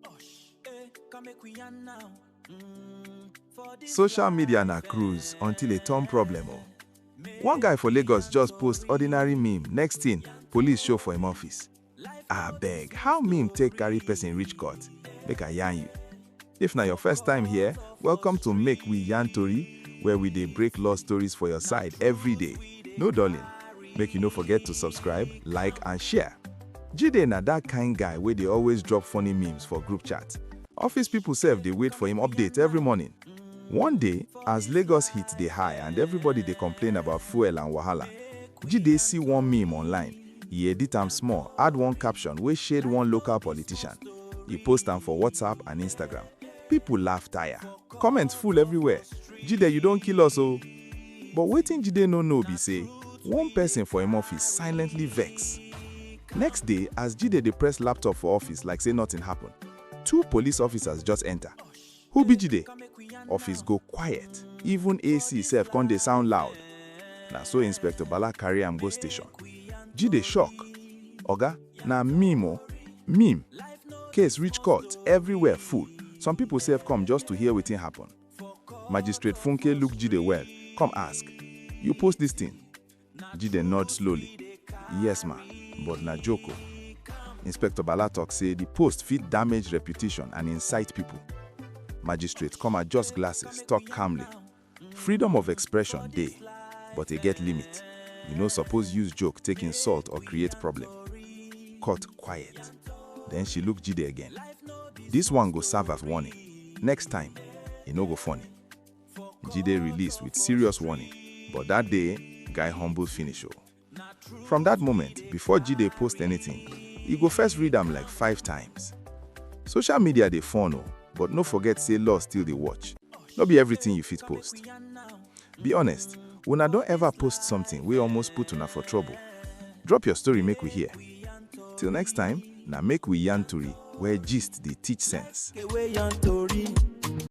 Osh, eh, come make we yarn now. Mm, for this Social media na life, cruise eh, until e turn problem o. make One guy for Lagos just post ordinary meme, next thing, police show for im office. Abeg, how meme take carry person reach court? Make I yarn you. If na your first time here, welcome to Make We Yarn Tori, where we dey break law stories for your side every day. No dulling. Make you no forget to subscribe, like and share. Jide na that kind guy wey dey always drop funny memes for group chat. Office people sef dey wait for him update every morning. One day, as Lagos heat dey high and everybody dey complain about fuel and wahala, Jide see one meme online, e edit am small, add one caption wey shade one local politician, e post am for WhatsApp and Instagram. People laugh tire. Comments full everywhere. Jide, you don kill us o. But wetin Jide no know be say one person for im office silently vex. Next day, as Jide dey press laptop for office like say nothing happen, two police officers just enter. Who be Jide? Office go quiet. Even AC sef come dey sound loud. Na so Inspector Bala carry am go station. Jide shock. Oga, Na meme o, meme. Case reach court, everywhere full. Some people sef come just to hear wetin happen. Magistrate Funke look Jide well, come ask, You post this thing? Jide nod slowly. Yes ma, but na joke o. Inspector Bala talk say the post fit damage reputation and incite people. Magistrate come adjust glasses, talk calmly. Freedom of expression dey, but e get limit. You no suppose use joke take insult or create problem. Cut quiet. Then she look Jide again. This one go serve as warning. Next time, e no go funny. Jide release with serious warning, but that day, guy humble finish o. From that moment, before Jide post anything, e go first read am like five times. Social media dey fun o, but no forget say law still dey watch. No be everything you fit post. Be honest, una don ever post something wey almost put una for trouble? Drop your story make we hear. Till next time, na make we yarn tori where gist dey teach sense.